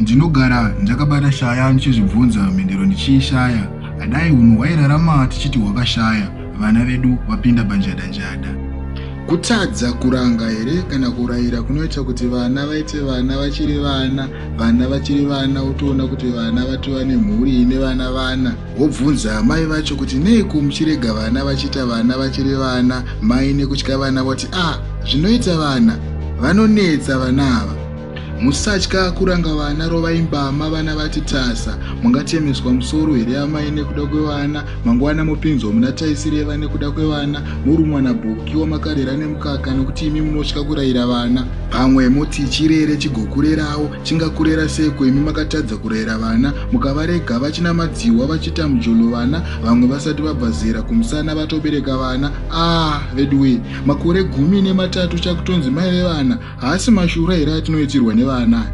Ndinogara ndakabata shaya ndichizvibvunza mhinduro ndichiishaya. Adai hunhu hwairarama tichiti hwakashaya vana vedu vapinda panjada njada. Kutadza kuranga here kana kuraira kunoita kuti vana vaite vana vachiri vana, vana vachiri vana wotoona kuti vana vatova nemhuri ine vana vana. Wobvunza amai vacho kuti neiko muchirega vana vachiita vana vachiri vana mai nekutya vana voti a ah, zvinoita vana vanonetsa vana ava musatya kuranga vana rovai mbama vana vati tasa mungatemeswa musoro here amai nekuda kwevana mangwana mopinzwa muna taisireva nekuda kwevana morumwa nabhuki wamakarera nemukaka nokuti imi munotya kurayira vana pamwe moti chirere chigokurerawo Chingakurera seiko imi makatadza kurayira vana mukavarega vachina madzihwa vachita mjolo vana vamwe vasati vabva zera kumusana vatobereka vana aah veduwee makore gumi nematatu chakutonzi mai vevana haasi mashura here atinoitirwa nevana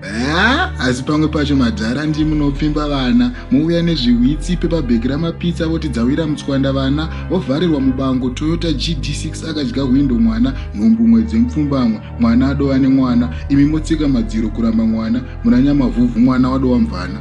haa asi pamwe pacho madhara ndi munopfimba vana mouya nezvihwitsi pepabheki ramapitsa voti dzawira mutswanda vana vovharirwa mubango toyota gd6 akadya hwindo mwana nhumbu mwedzi mpfumbamwe Mwana adova nemwana imi motsika madziro kuramba mwana munanyamavhuvhu mwana wadova mvana.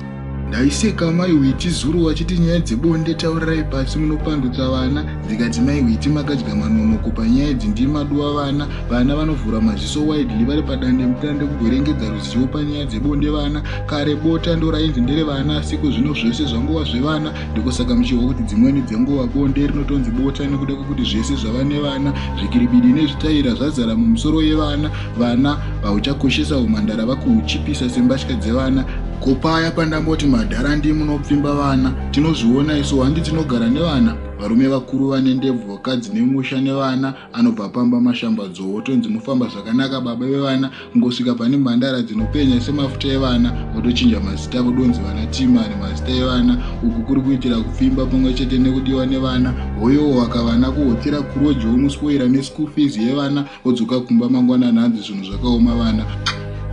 Ndaiseka mai Witi zuro vachiti nyaya dzebonde taurirai pasi munopandutsa vana zvikati mai Witi makadya manonoko panyaya idzi ndimi maduwa vana vana vanovhura maziso widely vari padande mutande kugwerengedza ruzivo panyaya dzebonde vana kare bota ndorainzi ndere vana asiko zvino zvese zvangova zvevana ndiko saka muchihwa kuti dzimweni dzenguva bonde rinotonzi bota nekuda kwekuti zvese zvava nevana zvikiribidi nezvitaira zvazara mumusoro yevana vana vauchakoshesa umhandara vakuuchipisa sembatya dzevana ko paya pandamboti madhara ndi munopfimba vana tinozviona isu handi tinogara nevana varume vakuru vane ndebvu vakadzi nemusha nevana anobva pamba mashambadzo wotonzi mufamba zvakanaka baba vevana kungosvika pane mhandara dzinopenya semafuta evana votochinja mazita vodonzi vana timani mazita evana uku kuri kuitira kupfimba pamwe chete nekudiwa nevana hoyowo wakavana kuhotera kuroji womuspoira neschool fees yevana wodzoka kumba mangwanani hanzi zvinhu zvakaoma vana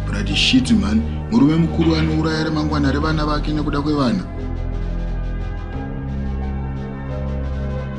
brati shit man murume mukuru anouraya remangwana revana vake nekuda kwevana